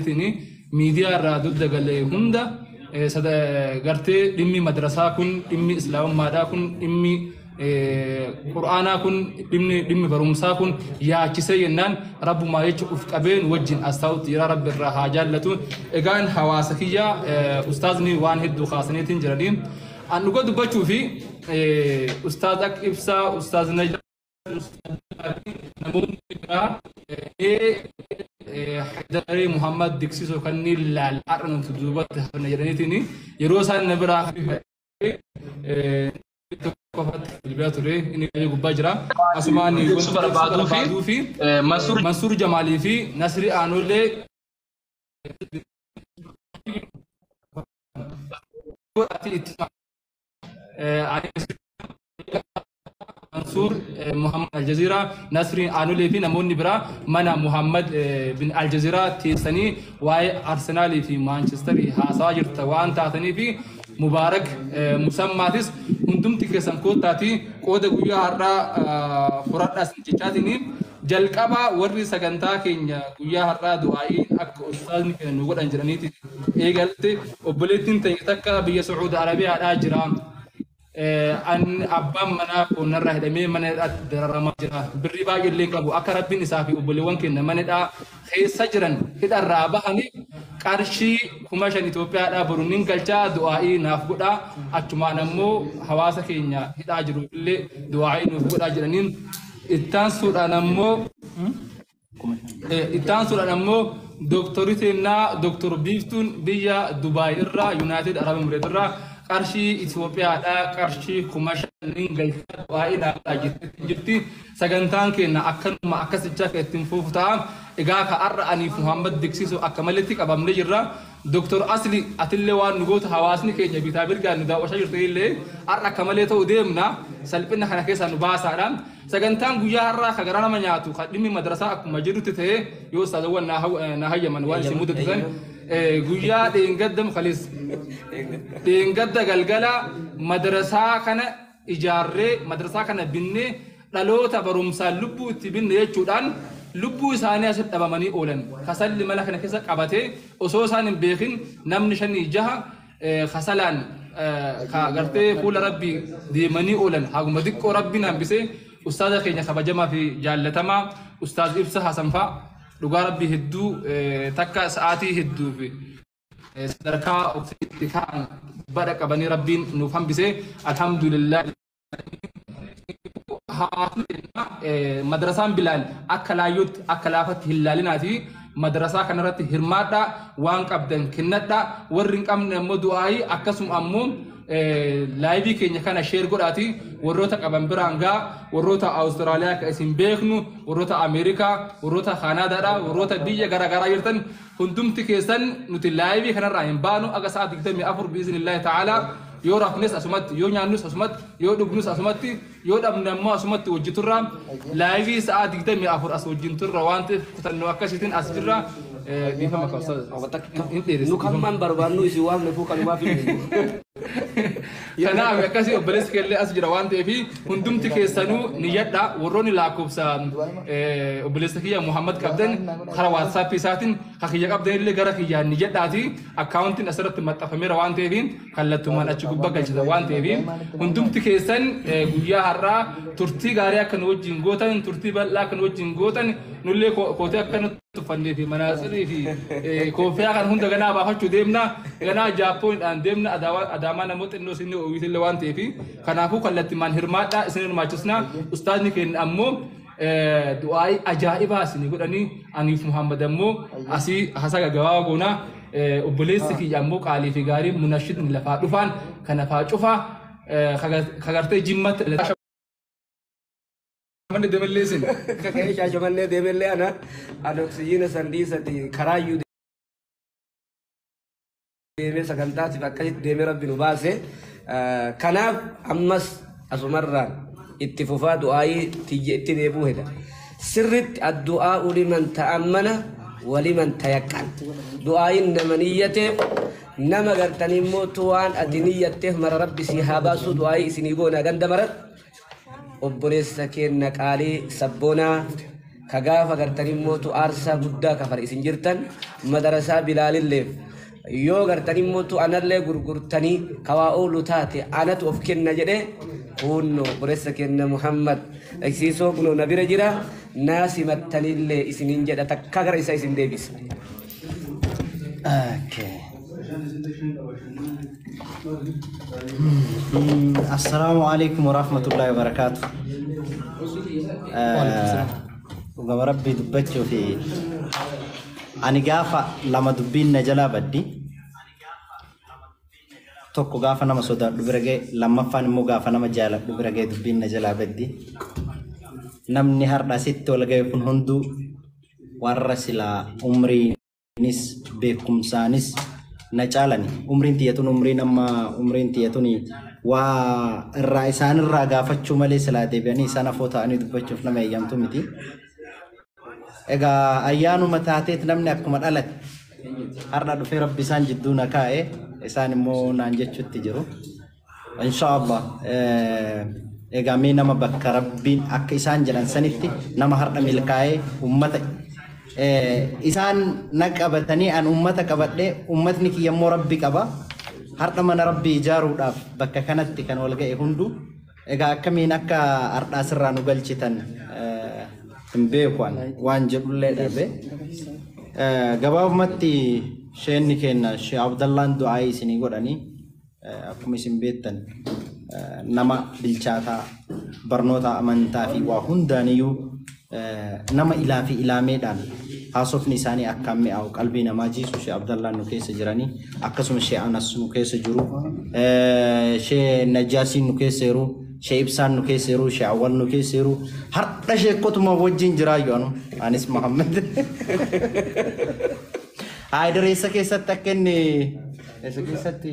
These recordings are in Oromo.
Tini miidiyaa irraa dugda galee hunda eh, sada- eh, gartee dhimmi madrasaa kun dhimmi islaamummaadhaa kun dhimmi eh, qur'aanaa kun dhimmi dhimmi barumsaa kun yaachisee jennaan rabbumaa jecha uf qabeen wajjin as taa'utti jira rabbi irraa haa jaallatu egaan hawaasa kiyyaa eh, ustaazni waan hedduu kaasaniitiin jiranii an dhuga dubbachuu fi eh, ustaaz ak ibsaa ustaaz najaa namoonni biraa Haydaree Muhammad Diksisoo kanneen laal har'a nuti duubatti hafna jedhaniitiin yeroo isaan na biraa qofatti bilbilaa ture inni qayyoo gubbaa jira asumaan wanti barbaaduu fi Mansuur Jamaalii fi Nasrii Aanollee godhati itti Mansuur Muhammad Aljaziiraa, Nasriin Aanulee fi namoonni biraa mana Muhammad bin Aljaziiraa teessanii waa'ee Arsenaalii fi Maanchestarii haasawaa jirta waan taatanii fi Mubaarak Musammaatis hundumti keessan koottaatii qooda guyyaa har'aa furadhaa sin jechaatiin Jalqaba warri sagantaa keenya guyyaa har'aa du'aa'iin akka ustaazni keenya nu godhan jedhaniiti eegalte obboleettiin teenya takka biyya Sucuudi Arabiyaadhaa jira. An abbaan manaa koo narraa hidhamee mana hidhaatti dararamaa jira. Birrii baay'ee illee qabu akka rabbiin isaa fi obboleewwan keenya mana hidhaa keessa jiran hidharraa bahanii qarshii kuma shan Itoophiyaadhaa boru nin galchaa du'aa'ii naaf godhaa achumaan ammoo hawaasa keenya hidhaa jiruuf illee du'aa'ii nuuf godhaa jedhaniin Ittaansuudhaan ammoo ittaansuudhaan ammoo dooktorri teennaa dooktor Biiftuun biyya Dubaay irraa Yuunaayitid Arab Emireet irraa qarshii Itoophiyaadhaa qarshii kuma shaniin galchaa du'aa ilaalaa jirtetti jirti. Sagantaan keenna akkanuma akkasicha akka ittiin fufu ta'a. Egaa ka har'a aniif Muhammad diksisu akka maletti qabamne jirra. Doktar Asli atille waan nu gootu hawaasni keenya bitaa mirgaan nu daawwachaa jirtanille har'a akka malee ta'u deemna salphina kana keessaa nu baasaadha. Sagantaan guyyaa har'aa ka garaa nama nyaatu ka dhimmi madrasaa akkuma jedhutti ta'e yoo ustaazawwan naa hayyaman waan isin mudatu san guyyaa dheengadda kaleessa dheengadda galgala madrasaa kana ijaarree, madrasaa kana binnee, dhaloota barumsaan lubbuu itti binne jechuudhaan lubbuu isaanii asitti dhabamanii oolan. Kasalli mana kana keessa qabatee osoo isaan hin beekin namni shanii jaha kasalaan ka gartee fuula rabbii deemanii oolan haguma xiqqoo rabbiin hambisee ustaaza keenya kabajamaa fi jaallatamaa ustaaz ibsa hasanfaa dhugaa rabbii hedduu takka sa'aatii hedduu fi sadarkaa ofitti ta'an bara qabanii rabbiin nuuf hambisee alhamdulillah hawaasni keenya eh, madrasaan bilaal akka laayyootti akka laafatti hin laalinaati madrasaa kanarratti hirmaadhaa waan qabdan kennadhaa warri hin qabne ammoo du'aa'ii akkasuma ammoo eh, laayivii keenya kana sheer godhaati warroota qaban biraan gaa warroota awustiraaliyaa ka isin beeknu warroota ameerikaa warroota kaanaadaadha warroota biyya garaagaraa jirtan Hundumti keessan nuti laayivii kanarraa hin baanu aga sa'a 24 biiznillaahi ta'aalaa yoo rafnes asumatti yoo nyaannus asumatti yoo dhugnus asumatti yoo dhabne ammoo asumatti wajji turra laayivii sa'a 24 as wajjin turra waan ta'eef kutannoo akkasiitiin as jirra Eh, dhiifama qabsa hin dheeressa Nu kan man barbaannu isin waamne fuu kanumaaf hin Kanaaf akkasii obboleessi keellee as jira waan ta'eef hundumti keessanuu niyyadha warroonni lakkoofsa eh, obboleessa kiyya Muhammad qabdan karaa WhatsApp isaatiin ka kiyya qabdan illee gara kiyyaan niyyadhaati akkaawuntiin asirratti maxxanfameera waan ta'eef kallattumaan achi gubbaa galchitan waan ta'eef hundumti keessan eh, guyyaa har'aa turtii gaarii akka nu wajjin gootan turtii bal'aa akka nu wajjin gootan nullee ko- kootee akka nu tuffannee fi manaatsirii fi eh, kooffiyaa kan hunda ganaa baafachuu deemna ganaa jaappoonidhaan deemna Adaawa- adaamaa namoota xinnoo isin oomishilee waan ta'eef kanaafuu kallattimaan hirmaadhaa isin hirmaachisna ustaazni keenya ammoo eh, du'aa'ii ajaa'ibaa isin godhanii aniif muhammad ammoo asii hasaga gabaabaa goonaa eh, obboleessi kiyya ammoo qaalii fi gaarii munashidni lafaa dhufaan kanafaa cufaa eh, kaga- kagartee jimmatti Shaashamannee deemellee isin. Kaka'ee shaashamannee deemellee ana ani oksijiina san dhiisati karaayyuu deemee sagantaatiif akkasitti deemee rabbi nu baase. Kanaaf ammas asumarraan itti fufaa du'aayii tiyya itti deebuu heda. Sirritti addu'aa uliman ta'ammana waliman tayaqqan. Du'aayiin nama niyyateef nama gartanii immoo waan ati niyyatteef mara rabbi si haa baasuu du'aayii isinii goonaa ganda maratti. obboleessa keenna qaalii sabboonaa ka gaafa gartanii mootu aarsaa guddaa kafale isin jirtan madarasaa bilaalilleef yoo gartanii mootu anallee gurgurtanii kawaa oolu taate anatu of kenna jedhe kunno obboleessa keenna muhammad dhagsiisoo kunoo na bira jira naa simattanillee isiniin jedha takka gara isa isin deebisa. Assalaamu alaikum warahmatullahi wabarakaatu. Dhugaa rabbii dubbachuu fi ani gaafa lama dubbiin na jalaa baddi. Tokko gaafa nama sodaadhu bira ga'e lammaffaan immoo gaafa nama jaaladhu bira ga'e dubbiin na jalaa baddi. Namni har'a asitti wal ga'e kun hunduu warra silaa umriinis beekumsaanis na caalani umriin tiyyatun umriin amma umriin tiyyatuni waa irraa isaanirraa gaafachuu malee silaa deebi'anii isaan afoo ta'anii dubbachuuf nama eeyyamtu miti. Egaa ayyaanuma taateet namni akkuma dhalate har'a dhufee rabbi isaan jidduu na kaa'e isaan immoo naan jechuutti jiru. Inshaallah egaa mee nama bakka rabbiin akka isaan jedhan sanitti nama har'a milkaa'ee ummata isaan na qabatanii an ummata qabadhee ummatni kiyya immoo rabbi qaba har'a mana rabbii ijaaruudhaaf bakka kanatti kan wal ga'e hunduu egaa akkamiin akka har'aa sirraa nu galchitan hin beeku an waan jedhullee dhabe gabaabumatti sheenni keenna shee abdallaan du'aa isinii godhanii Akkuma isin beektan nama bilchaataa barnoota amantaa fi waa hundaaniyyuu nama ilaa fi ilaameedhaan haasofni isaanii akkaan mi'aawu qalbii namaa jiisu Shee Abdallaan nu keessa jiranii akkasuma Shee Anas nu keessa jiru Shee Najjaasiin nu keessa jiru Shee Ibsaan nu keessa jiru Shee Awwal nu keessa jiru har'a sheekkotuma wajjin jiraayyu anu anis Mahammed. Haa dareessa keessatti akka inni Eessa keessatti?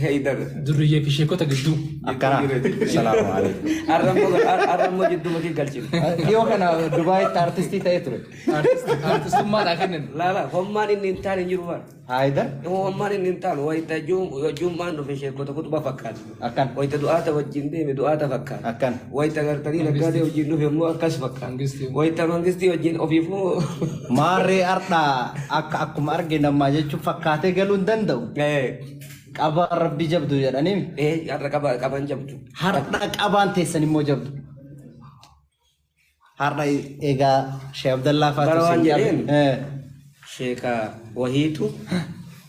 Heydar. Durriyyee fi sheekota gidduu. Akkana. Salaamu alaikum. Har'a immoo har'a immoo jidduu makii galchine. Dhiyoo kana Dubaayitti artistii ta'ee ture. Artistummaa naa kennan. Laala hommaan inni hin taane hin jiru waan. Haayidar. Hommaan inni hin taane wayita jummaan dhufe sheekota kutuba fakkaata. Akkan. Wayta du'aata wajjin deeme du'aata fakkaata. Akkan. Wayta gartanii naggaadee wajjin dhufe immoo akkas fakkaata. Mangistii. Wayta mangistii wajjin ofiif moo. Maarree ardhaa akka akkuma arge namaa jechuun fakkaatee galuu hin danda'u. Eh, Qabaa rabbi jabdu jedhanii. eh, har'a qaba- qaban jabdu. Hardhaa qabaan teessan immoo jabdu. Har'a egaa Sheekh Abdallaa Bara faatu waan isin qabe. jedheen. Eh, sheeka wahiitu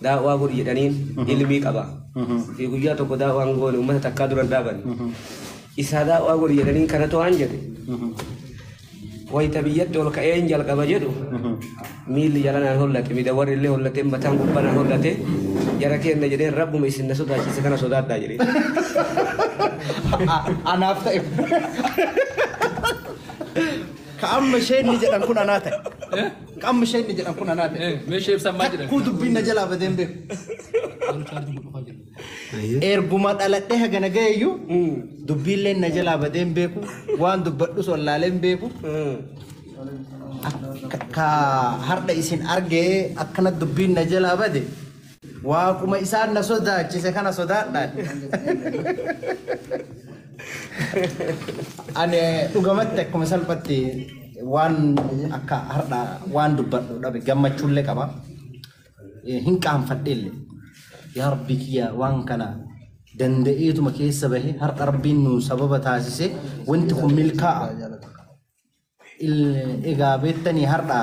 daawwaa godhi jedhaniin ilmii qaba. Fi guyyaa tokko daawwaan goone uummata takkaa dura hin dhaaban. Isaa daawwaa godhi jedhaniin kanatu waan jedhe. Wayita biyyatti ol ka'een jalqaba jedhu Miilli jala naan hollate, midawarri illee hollatee, mataan gubbaa naan hollate, jara keenna jedhee rabbuma isin na sodaachiise kana sodaadhaa jedhee. Anaaf ta'e. Ka amma isheen ni jedhan kun anaa ta'e. Ka amma isheen ni jedhan kun anaa ta'e. Meeshee ibsan maal jedhan? Kuu dubbiin na jalaa badeen beeku. Erguma dhaladhee hagana ga'eeyyu dubbiilleen na jalaa badee hin beeku waan dubbadhus wallaalee hin beeku Akka- ka har'a isin argee akkana dubbiin na jalaa bade waaquma isaan na sodaachise kana sodaadhaan ani dhugamatti akkuma salphatti waan akka har'a waan dubbadhu dhabe gammachuullee qaba hin qaanfadheelle yaa rabbii kiyya waan kana danda'eetuma keessa bahe har'a rabbiin nu sababa taasise wanti kun milkaa'a egaa beektanii har'a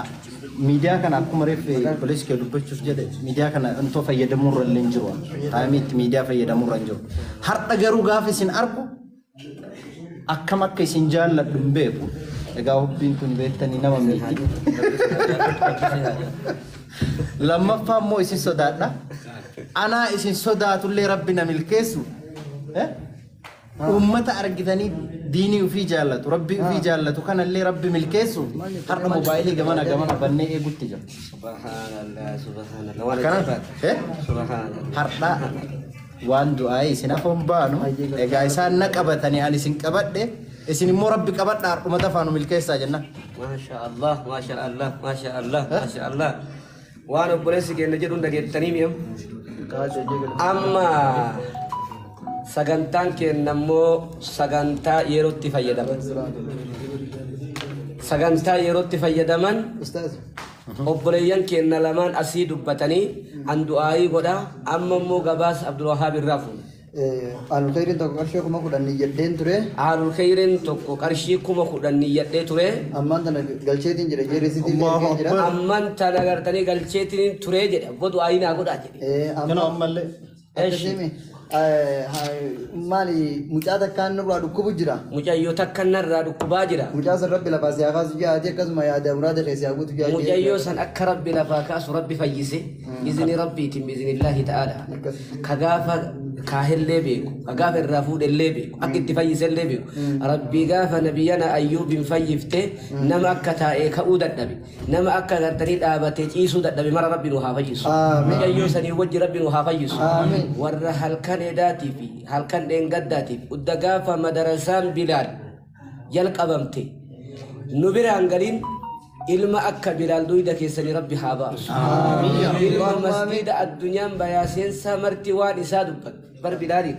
miidiyaa kana akkuma reeffe pooliskee dubbachuuf jedhe miidiyaa kana intoo fayyadamuu irra illee hin jiru taa'imiitti miidiyaa fayyadamuu irra hin jiru har'a garuu gaafa isin argu akkam akka isin jaalladhu hin beeku. Egaa hubbiin kun beektanii nama miiti. Lammaffaa immoo isin sodaadha. Anaa isin sodaatullee rabbi na milkeessu. Eh? Uummata argitanii diinii ofii jaallatu, rabbii ofii jaallatu kanallee rabbi milkeessu har'a moobaayilii gamana gamana bannee eegutti jira. Subhanallah, subhanallah. Waan Kana ajaa'ibaati. eh? Subhanallah. har'aa waan du'aa'ee isin hafoon baanu egaa isaan na qabatanii ani isin qabadhe isin immoo rabbi qabadha har'uma dafaa nu milkeessaa jenna. Maasha Allah, maasha Allah, maasha Allah, maasha Allah. Waan obboleessi keenya jedhu hin dhageettanii mi'am. Amma sagantaan keenya immoo sagantaa yerootti fayyadaman. Sagantaa yerootti fayyadaman Obboleeyyan keenna lamaan asii dubbatanii an du'aa'ii godha amma immoo gabaasa Abdulwahaab irraa fuuna. Aalul Kheeyriin tokko qarshii kuma kudhan niyyadheen ture. Aalul Kheeyriin tokko qarshii kuma kudhan niyyadhee ture. Ammaan tana galcheetiin jira jee risiitii illee ergeen jira. Amman tana gartanii galcheetiin ture jedha. Abbo du'aa'ii naa godhaa jedhe. Ee, Kanoo amma. ammallee. Adda Eshi. deeme eh, ha- maali mucaa takkaan nurraa dhukkubu jira. Mucayyoo takka narraa dhukkubaa jira. Mucaa san rabbi lafaa si haa kaasu jaati akkasuma yaada muraada kee si haa guutu jaati. Mucayyoo san akka rabbi lafaa kaasu rabbi fayyise. Mm. Izni rabbiitiin biiznillaahi ta'aala. Akkas. Ka gaafa kaahillee beeku, ka gaafa irraa fuudhellee beeku, akka itti fayyisellee beeku. Mm. Rabbii gaafa nabiyyana ayyuubiin fayyifte nama akka taa'ee ka'uu dadhabe. Nama akka gartanii dhaabatee ciisuu dadhabe mara Rabbi nu haa fayyisu. Aamiin. Mucayyoo sanii wajji Rabbi nu haa fayyisu. Aamiin. Warra halkan edaatii fi halkan dheengaddaatiif udda gaafa madarasaan Bilaal jalqabamte nu biraan galiin ilma akka Bilaal duyda keessanii Rabbi haa baasu. Ilma masgiida addunyaan bayaa seensaa marti waan isaa dubbatu bar Bilaaliin.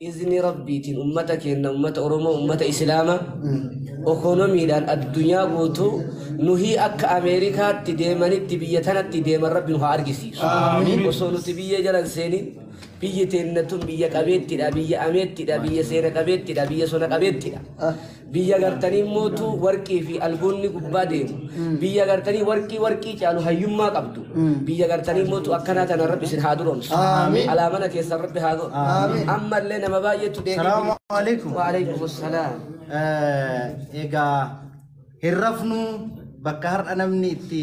izni rabbiitiin ummata keenna ummata oromoo ummata islaama ekonomiidhaan addunyaa guutuu nuhii akka ameerikaatti deemanitti biyya tanatti deeman rabbi nu haa argisiisu Aamiin. osoo nuti biyya jalan seenin biyyi teenna tun biyya qabeettidha biyya ameettidha biyya seena qabeettidha biyya sona qabeettidha Biyya gartanii mootu warqii fi albuunni gubbaa deemu. Biyya gartanii warqii warqii caalu hayyummaa qabdu. Biyya gartanii mootu akkanaa tana rabbi isin haa duroomsu. Aamiin. Alaa mana keessan rabbi haa godhu. Aamiin. Ammallee nama baay'eetu deebiin. Salaamu alaikum. Waalaikum salaam. Eh, Egaa hin rafnu bakka har'a namni itti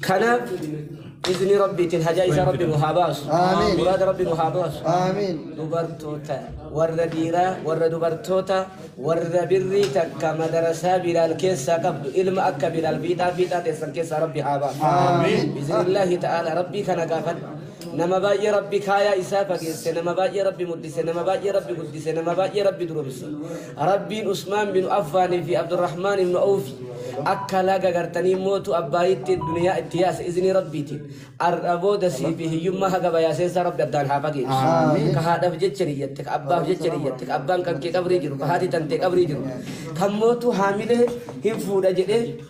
kana izni rabbiitiin hajaa isaa rabbi nu haa baasu Aamiin. muraada rabbi nu haa baasu Aamiin. dubartoota warra dhiiraa warra dubartoota warra birrii takka madarasaa bilaal keessaa qabdu ilma akka bilaal fiixaa fiixaa teessan keessaa rabbi haa baasu Aamiin. biiznillaahi ta'aala rabbii kana gaafadha Nama baay'ee Rabbi kaayaa isaa fageesse, nama baay'ee Rabbi muddise, nama baay'ee Rabbi guddise, nama baay'ee Rabbi duromse. Rabbiin Usmaan bin Affaanii fi Abdurrahmaan ibn Awfi akka laga gartanii mootu abbaayitti duniyaa itti yaase izinii Rabbiitiin. Ar'a booda sii fi hiyyummaa haga bayaaseensaa Rabbi addaan haa fageessu. Ka haadhaaf jecha niyyatte, ka abbaaf jecha niyyatte, ka abbaan kan kee qabrii jiru, ka haati tantee qabrii jiru. Kan mootu haamilee hin fuudha jedhee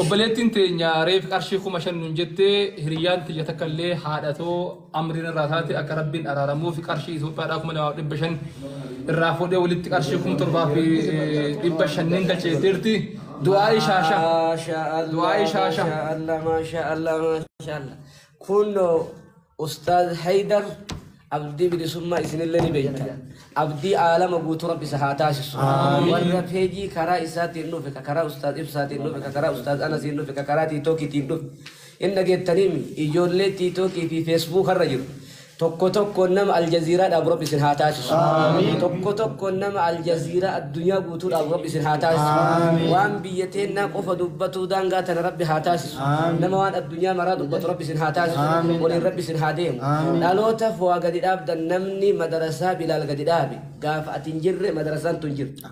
Obboleettiin teenya reef qarshii kuma shan nun jette hiriyyaan tiyya takka illee haadha too amriin irraa taate akka rabbiin araaramuuf qarshii Itoophiyaadhaa kuma lamaa fi dhibba shan irraa fuudhee walitti qarshii kuma torbaa fi dhibba shanniin galcheetteerti du'aa ishaasha Maasha du'aa Allah, ishaasha Maasha Allah, Maasha Allah, Maasha Allah. Kunoo Ustaaz Haydar abdii bilisummaa isinillee ni beektan. Abdii aalama guutuu rabbi isa haa taasisu. Warra peejii karaa isaatiin dhufe, ka karaa ustaaz ibsaatiin dhufe, ka karaa ustaaz anasiin dhufe, ka karaa tiitookiitiin dhufe. Hin dhageettaniim ijoollee tiitookii fi feesbuuka irra jiru. Tokko tokko nama aljaziiraa dhaabu rabbi isin haa taasisu. Tokko tokko nama aljaziiraa addunyaa guutuu dhaabu rabbi isin haa taasisu. Waan biyya teennaa qofa dubbatuu daangaa tana rabbi haa taasisu. nama waan addunyaa maraa dubbatu rabbi isin haa taasisu waliin rabbi isin haa deemu dhaloota fowaa gadi dhaabdan namni madarasaa bilaal gadi dhaabe gaafa ati hin jirre madarasaan tun jirti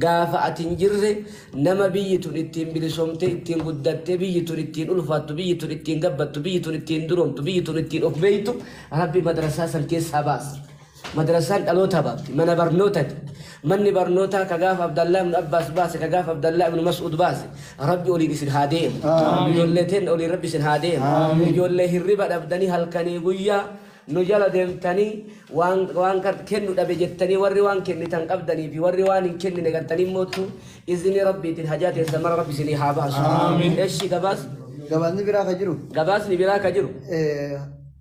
gaafa ati hin jirre nama biyyi tun ittiin bilisomte ittiin guddatte biyyi tun ittiin ulfaattu biyyi tun ittiin gabbattu biyyi tun ittiin duromtu biyyi tun ittiin of beektu rabbi madarasaa san keessaa baasa Madrasaan dhalootaa baafti. Mana barnootati. Manni barnootaa ka gaafa Abdallaa ibnu Abbaas baase, ka gaafa Abdallaa ibnu Mas'uud baase, Rabbi oliin isin haa deemu. Ijoollee teenna oliin Rabbi isin haa deemu. Ijoollee hirriba dhabdanii halkanii guyyaa nu jala deemtanii waan waan gar- kennu dhabe jettanii warri waan kennitan qabdanii fi warri waan hin kennine gartanii moottu izinii Rabbiitiin hajaa teessan mara Rabbi isinii haa baasu. Eshi gabaas Gabaasni biraa ka jiru gabaasni biraa ka jiru eh,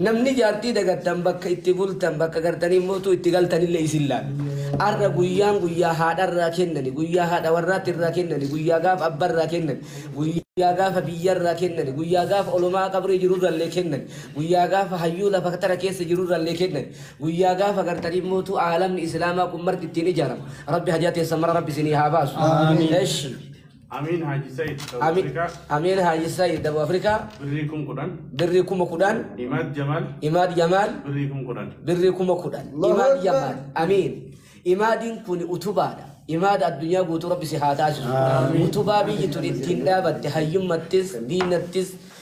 Namni jaartii dagattan bakka itti bultan bakka gartanii mootuu itti galtanillee isin laala. Arra guyyaan guyyaa haadharraa kennani, guyyaa haadha warraatti irraa kennani, guyyaa gaafa abbarraa kennani, guyyaa gaafa biyyarraa kennani, guyyaa gaafa olomaa qabrii jirurrallee kennani, guyyaa gaafa hayyuu lafa tara keessa jirurrallee kennani, guyyaa gaafa gartanii mootuu aalamni islaamaa kun marti ittiin ijaarama. Rabbi hajaa teessan mara rabbi isinii haa baasu. Eshi. Amiin Haaji Sayid South Ami- Africa Ameen Haaji Saayid Daboo Afrikaa birrii kum kudhan birrii kuma kudhan Imaad Jamaal Imaad Jamaal birrii kum kudhan birrii kuma kudhan Allahu Imaad Akbar. Jamaal Amiin Imaadiin kun utubaadha Imaada addunyaa guutuu rabbi si haa taasisu utubaa biyyi tun ittiin dhaabatte hayyummattis diinattis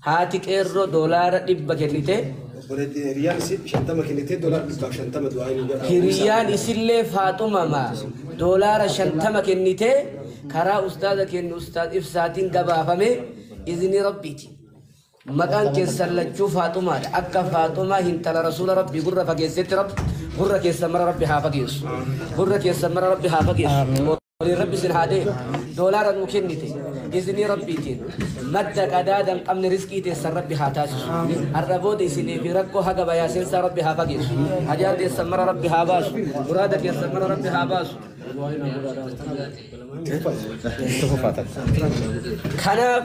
Haati qeerroo doolaara dhibba kennitee. Obboleettiin hiriyaan isii shantama kennitee doolaara dhibbaaf shantama du'aa nuu godhaa. Hiriyaan isillee Faaxumama doolaara shantama kennitee karaa ustaaza keenya ustaaz ibsaatiin gabaafame iznii rabbiiti. Maqaan keessan lachuu Faaxumaadha. Akka Faaxumaa hintala rasuula rabbii gurra fageessetti rabbi gurra keessan mara rabbi haa fageessu. Gurra keessan mara rabbi haa fageessu. Waliin rabbi isin haa deemu. Doolaara nuu kennite. Iznii rabbiitiin. Madda qadaada hin qabne riskii teessan rabbi haa taasisu. Har'a booda isinii fi rakkoo haga bayaa seensaa rabbi haa fageessu. Hajaa teessan mara rabbi haa baasu. Muraada keessan mara rabbi haa baasu. Kanaaf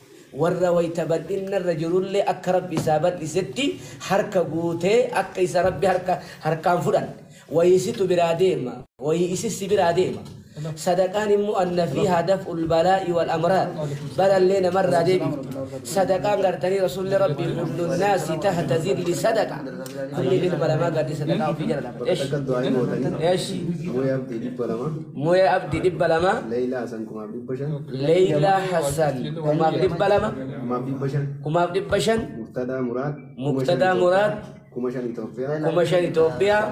Warra wayta bal'inna irra jirullee akka Rabbi isaa bal'isetti harka guutee akka isa Rabbi harka harkaan fudhan. Wayii situ biraa deema, wayii isi si biraa deema. Sadaqaan immoo anna fiihaa daf'ul balaa'i wal amraad, balallee namarraa deebifti. Sadaqaan gartanii Rasuulli Rabbii kullun naasi tahta zilli sadaqa, namni ilma namaa gaddi sadaqaa ofii jala lafa. Eshi. Eshi. Mu'ee Abdii 200. Mu'ee Abdii 200. Leeylaa Hasan 1000. Leeylaa Hassan kumaaf dhibba lama kumaaf dhibba shan Muqtadaa Muraad kuma shan Itoophiyaa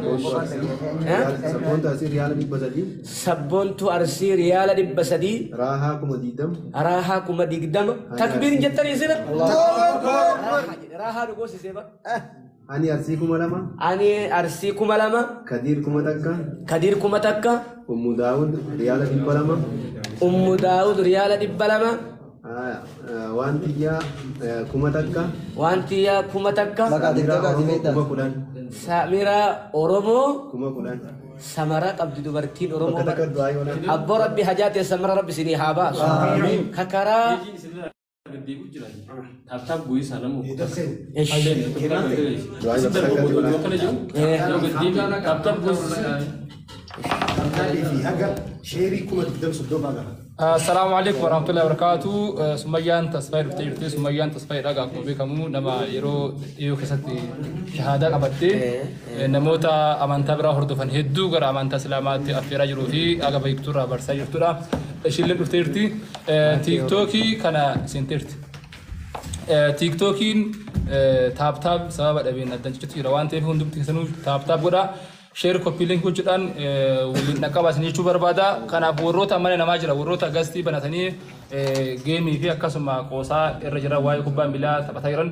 sabboontuu arsii riyaala dhibba sadii Raahaa kuma digdama. raahaa kuma digdama takbiirin jettanii sila Raahaa dhugoosisee bara Ani Arsii kuma lama. Ani Arsii kuma lama. Kadiir kuma takka. Kadiir kuma takka. Ummu Daawud riyaala dhibba lama. Ummu Daawud riyaala dhibba lama. Waan tiyyaa kuma takka. Waan tiyyaa kuma takka. Kuma kudhan. Samiraa Oromoo. Kuma kudhan. Samaraa qabdi dubartiin Oromoo. Abboo Rabbi hajaa teessan mara Rabbi isinii haa baasu. Kakaraa. Deddeebi'u jira. Taaptaap bu'ii isaa nama uffata. Isin darbu boodoo yoo kana jiru. Yoo gaddiin taaptaap bu'ii isaa. Assalamu alaikum warahmatullahi wabarakatuh. Sumayyaan tasfayii dhuftee jirti. Sumayyaan tasfayii dhagaa akkuma beekamu nama yeroo dhiyoo keessatti shahaadaa qabattee Namoota amantaa biraa hordofan hedduu gara amantaa Islaamaatti affeeraa jiruu fi haga beektu irraa barsaa jirtudha. Ishillee dhuftee jirti. Tiiktookii kana seentee jirti. Tiiktookiin taaptaap sababa dhabeen addaan ciccitutti jira waan ta'eef hundumti keessanuu taaptaap godhaa. Sheer koppii linkii gochuudhaan waliin dhaqqabaa isin jechuu barbaada. Kanaaf warroota mana namaa jira warroota gastii banatanii geemii fi akkasuma qoosaa irra jira waa'ee kubbaa miilaa taphataa jiran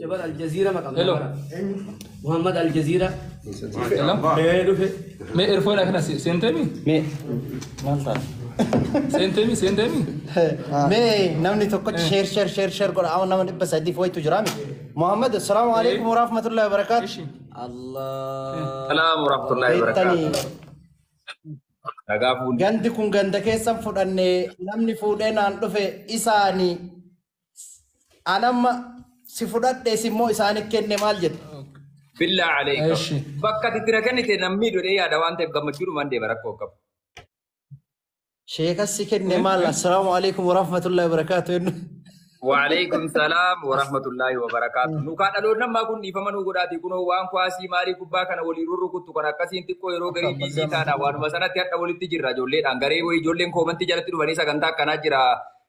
Jabal Aljaziira maqaa Hello. Muhammad Aljaziira. Hello. Ee dhufe. Me erfoon akana seentemi? Me. Maal ta'a? Seentemi seentemi? Mee namni tokkotti sheer sheer sheer sheer godha amma nama dhibba sadiif wayitu jira miti. Muhammad assalaamu alaikum warahmatullahi wabarakaatu. Salaam warahmatullahi Beektanii wabarakatuh. Nagaa fuudhee. gandi kun ganda keessan fudhannee namni fuudhee naan dhufe isaanii An amma si fudhadhee si immoo isaaniif kenne maal jetta? Billaa aleeka. Eshi. Bakka ati tira kennite namni dhodhee yaada waan ta'eef gammachuudhumaan deema rakkoo hin qabu. Sheekas si kenne maal? Assalaamu alaikum warahmatullahi wabarakaatu jennu. Waaleykum salaam warahmatullaahi wabarakaatu. Nukaa dhaloonni ammaa kun dhiifama nuu godhaatii kunoo waan kuwaasii maalii kubbaa kana waliin rurrukuttu kan akkasiin xiqqoo yeroo garii biizii taana waanuma sanatti hadha walitti jirra ijoolleedhaan garee wayii ijoolleen koomantii jalatti dhufanii sagantaa akkanaa jira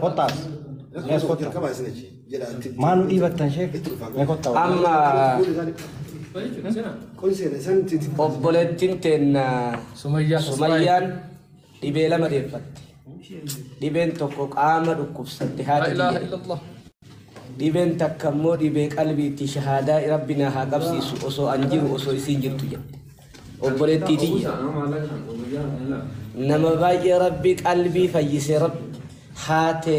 Kottaas. Yes, kotta. Jalqabaa isin achi jedha. Maal nu dhiibattan sheek? Mee kotta. Amma Kun seena isaan itti itti obboleettiin teenna Sumayyaa Sumayyaan dhibee lama deeffatte. Dhibeen tokko qaama dhukkubsatte haati Laa ilaaha tiyya. illallah. Dhibeen takka immoo dhibee qalbiitti shahaadaa rabbi na haa qabsiisu osoo an jiru osoo isiin jirtu jedhe. obboleettii tiyya nama baay'ee rabbi qalbii fayyise rabbi haate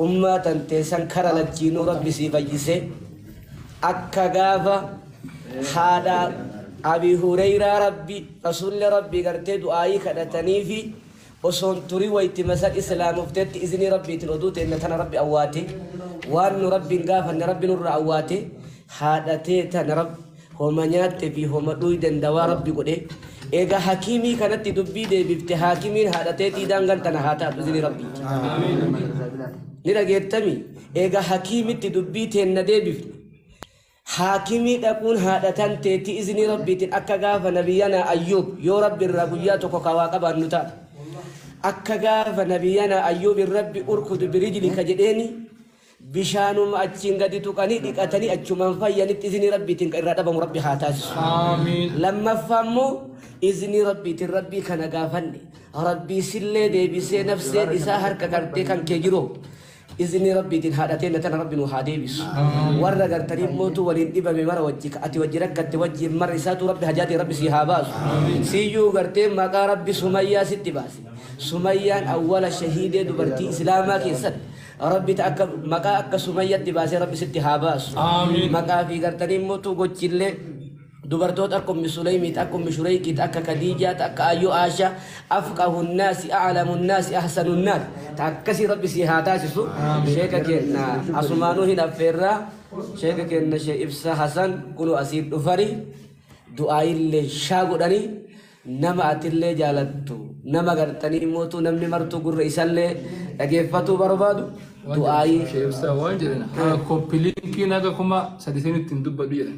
ummaa tantee san kara lachiinuu rabbi sii fayyise akka gaafa haadha abi hureyraa rabbi rasuulli rabbi gartee du'aayii kadhataniifi osoon turi waytima san islaamoftetti iznii rabbiitin oduu teenna tana rabbi awwaate waan nu rabbiin gaafanne rabbi nurra awwaate haadha tee tana rabb homa nyaatte fi homa dhuuyden dawaa rabbi godhe eega hakiimii kanatti dubbii deebifte haakimiin haadha teetii daangan tana haa taatu iznii rabbiiti ni dhageettami eega hakiimitti dubbii teenna deebifne Haakimii dhaquun haadha tanteetti iznii Rabbiitin akka gaafa Nabiyyanaa Ayyuub yoo Rabbi irraa guyyaa tokko ka waa qabaannu taate. Akka gaafa Nabiyyanaa Ayyuubin Rabbi urkud birijlika jedheeni bishaanuma achiin gadi tuqanii dhiqatanii achumaan fayyanitti iznii Rabbiitin ka irraa dhabamu Rabbi haa taasisu. Aamiin. Lammaffaa immoo iznii Rabbiitin Rabbii kana gaafanne Rabbii sillee deebisee nafseen isaa harka qabdee kan kee jiroo Iznii rabbiitin haadha teenna tana rabbi nuu haa deebisu warra gartanii immootu waliin dhibame mara wajji ka ati wajji rakkatte wajjiin mara isaatuu rabbi hajaatii rabbi sii haa baasu siiyyuu gartee maqaa rabbi sumayyaa sitti baase sumayyaan awwala shahiidee dubartii islaamaa keessatti rabbi ta akka maqaa akka sumayyatti baasee rabbi sitti haa baasu maqaa fi gartanii immootu gochillee Dubartoota akka ummi Suleymit, akka ummi Shureykit, akka Kadiijaat, akka Aayyu Aasha, afqahu nnaasi, a'lamu nnaasi, ahsanu nnaas. Ta akkasii Rabbi sii haa taasisu. Sheeka keenna asumaanuu hin affeerra. Sheeka keenna Shee Ibsa Hasan kunoo asii dhufani. Du'aayillee shaa godhani. Nama atillee jaalattu, nama gartanii immootu namni martuu gurra isallee dhageeffatuu barbaadu. Du'aayii. Shee Ibsa waan jedhan haa koppi liinkiin haga kuma sadisanitti hin dubbadhu jedhan.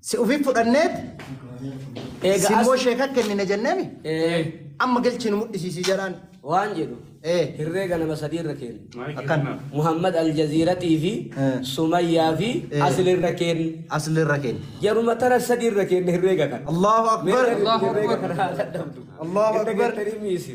Si ufiif fudhanneet Eega simmoo as sheeka kennine jenneemi ee, amma galchinu mudhisiisii jedhaan. waan jedhu Ee hirreega nama sadii irra kenna. akkan Muhammad Aljaziiratii fi Eh. Sumayyaa fi Eh. Asli irra kenna. asli irra kenna. Jaruma tara sadii irra kenna hirreega kana. Allahu Mee akbar. hirreega kana haa dadhabdu. Allahu Irra akbar. gettanii miisi.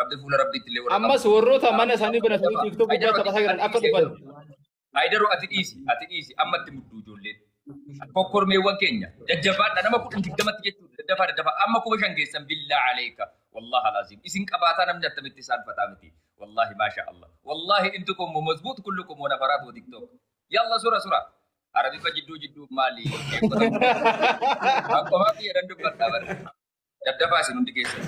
Rabbi fuula Rabbiitti illee warra ammas qabu. warroota Kitaaba mana isaanii kitaaba banatanii ajaba. tiiktookii Haydaro guddaa ati taphataa ati jiran akka dhiisi dhufan Haydaro. Haydaro ati dhiisi ati dhiisi amma itti mudduu ijoolleen. Kokkormeewwan keenya jajjabaadha nama kudhan digdamatti jechuudha daddafaa daddafaa amma kuma shan keessan billaa aleeka wallahi alaaziim isin qabaataa namni attamitti isaan fataa miti wallahi maasha allah wallahi intu kun mumazbuut kullu kun wana faraat wa tiktok yalla sura sura arabifa jidduu jidduu maali eeggota qomaa biyya dandubbataa bara Daddafaa isin hundi keessan.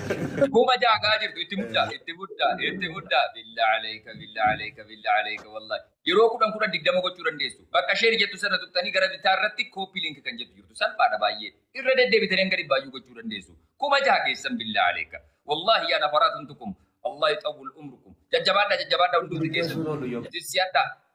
Kuma ja'a gaa jirtu itti muddaa itti muddaa itti muddaa billa aleeka billa aleeka billa aleeka wallahi. Yeroo kudhan kudhan digdama gochuu dandeessu. Bakka isheen jettu sana tuqxanii gara bitaa irratti kooppi link kan jettu jirtu salphaadha baay'ee. Irra deddeebitanii hanga dhibbaayyuu gochuu dandeessu. Kuma ja'a keessan billa aleeka. Wallahi yaa nafaraa tuntukum. Allah yixawwil umrukum. Jajjabaadhaa jajjabaadhaa hundumti keessan. Tissiyadhaa.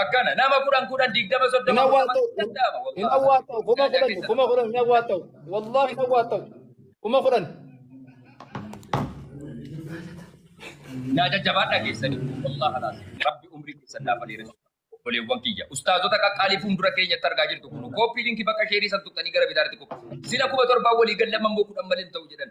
Akkana nama kudhan kudhan digdama hin soddoma awwaa afurtama ta'u hin danda'ama hin wallahi awwaa ta'u kuma Yaa kudhan keessan kuma kudhan hin awwaa ta'u wallahi hin awwaa ta'u kuma kudhan yaa jajjabaadha keessanii wallahi alaas rabbi umrii keessan naa faleeressu obboleewwan kiyya ustaazota qaqqaalii fuuldura keenyatti argaa jirtu kun kooppii linkii bakka sheerii san tuqxanii gara bitaatti koppi sila kuma torbaan walii gallamman boo kudhan malee hin ta'u jedhan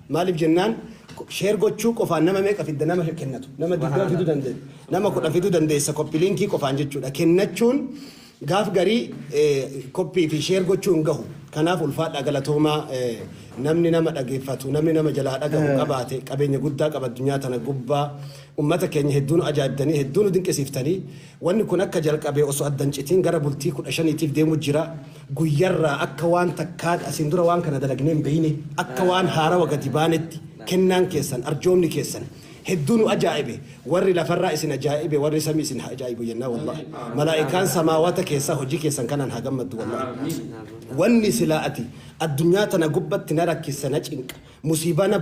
Maalif jennaan share gochuu qofaan nama meeqa fidda nama kennatu nama 20 fiduu dandeessa nama 10 fiduu dandeessa copy linkii qofaan jechuudha kennachuun gaaf garii copy fi share gochuu hin gahu kanaaf ulfaadhaa galatoomaa namni nama dhageeffatu namni nama jalaa dhagahu qabaate qabeenya guddaa qaba addunyaa tana gubbaa ummata keenya hedduun ajaa'ibdanii hedduun dinqisiiftanii Wanni kun akka jalqabee osoo adda hin citiin gara bultii 15tiif deemu jira. Guyyarraa akka waan takkaan asiin dura waan kana dalagnee hin beeyne, akka waan haarawa gadi baanetti kennaan keessan, arjoomni keessan hedduu nu ajaa'ibe. Warri lafarraa isin ajaa'ibe warri samii isin haa ajaa'ibu jennaa wallahi. Malaa'ikaan samaawata keessaa hojii keessan kanaan haa gammaddu wallahi. Wanni silaa ati addunyaa tana gubbatti na rakkissa, na cinqa, musiibaa na.